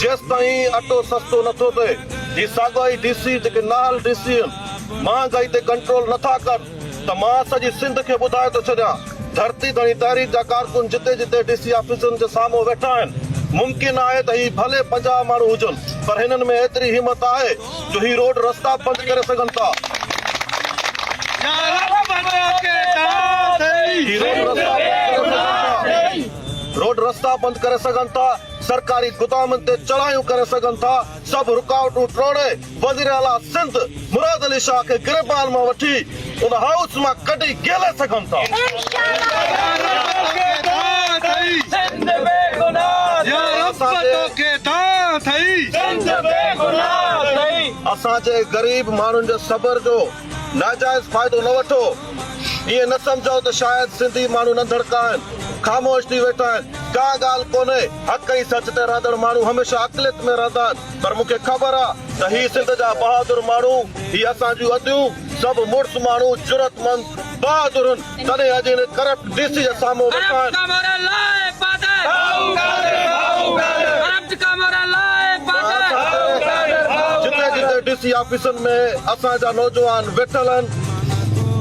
جيستائين اٽو سستو نٿو ٿئي، هي ساڳيا ئي ڊي سي جيڪي نااهل ڊي سي آهن، مهانگائي تي ڪنٽرول نٿا ڪن ته مان سڄي سنڌ کي ٻڌائي ٿو ڇڏيان، ڌرتي ڌڻي تحريڪ جا ڪارڪن جتي جتي ڊي سي آفيسن جي سامهون ويٺا آهن، ممڪن آهي ته هي ڀلي پنجاهه ماڻهو هجن پر هنن ۾ ايتري همت آهي جو هي روڊ رستا بند ڪري سگهن ٿا. سرڪاري گدامن تي چڙهايون ڪري سگهن ٿا، سڀ رڪاوٽون ٽوڙي وزيراعليٰ سنڌ مراد علي شاهه کي گريبان مان وٺي ان هائوس مان ڪڍي گيلي سگهن ٿا. اسان جي غريب ماڻهن جي صبر جو ناجائز فائدو نه وٺو، ائين نه سمجهو ته شايد سنڌي ماڻهو ننڌڻڪا آهن، خاموش ٿي ويٺا آهن، ڪا ڳالهه ڪونهي، حق ۽ سچ تي رهندڙ ماڻهو هميشه عقليت ۾ رهندا آهن، پر مون کي خبر آهي ته هي سنڌ جا بهادر ماڻهو، هي اسان جون اديون، سڀ مڙس ماڻهو، جرئتمند، بهادرن، تڏهن اڄ هن ڪرپٽ ڊي سي جي سامهون وساڻ جتي جتي ڊي سي آفيسن ۾ اسان جا نوجوان ويٺل آهن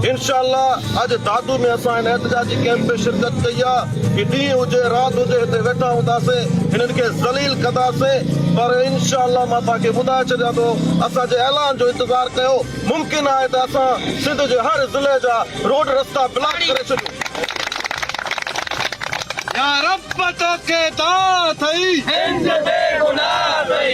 انشاء الله اڄ دادو ۾ اسان هن احتجاجي ڪئمپ ۾ شرڪت ڪئي آهي هي ڏينهن هجي رات هجي هتي ويٺا هونداسين هنن کي ذليل ڪنداسين پر انشاء الله مان توهان کي ٻڌائي ڇڏيان ٿو اسان جي اعلان جو انتظار ڪيو. ممڪن آهي ته اسان سنڌ جي هر ضلعي جا روڊ رستا بلاڪ ڪري ڇڏيون. يا رب توکي دانهن اٿئي. هند بي گناهه اٿئي.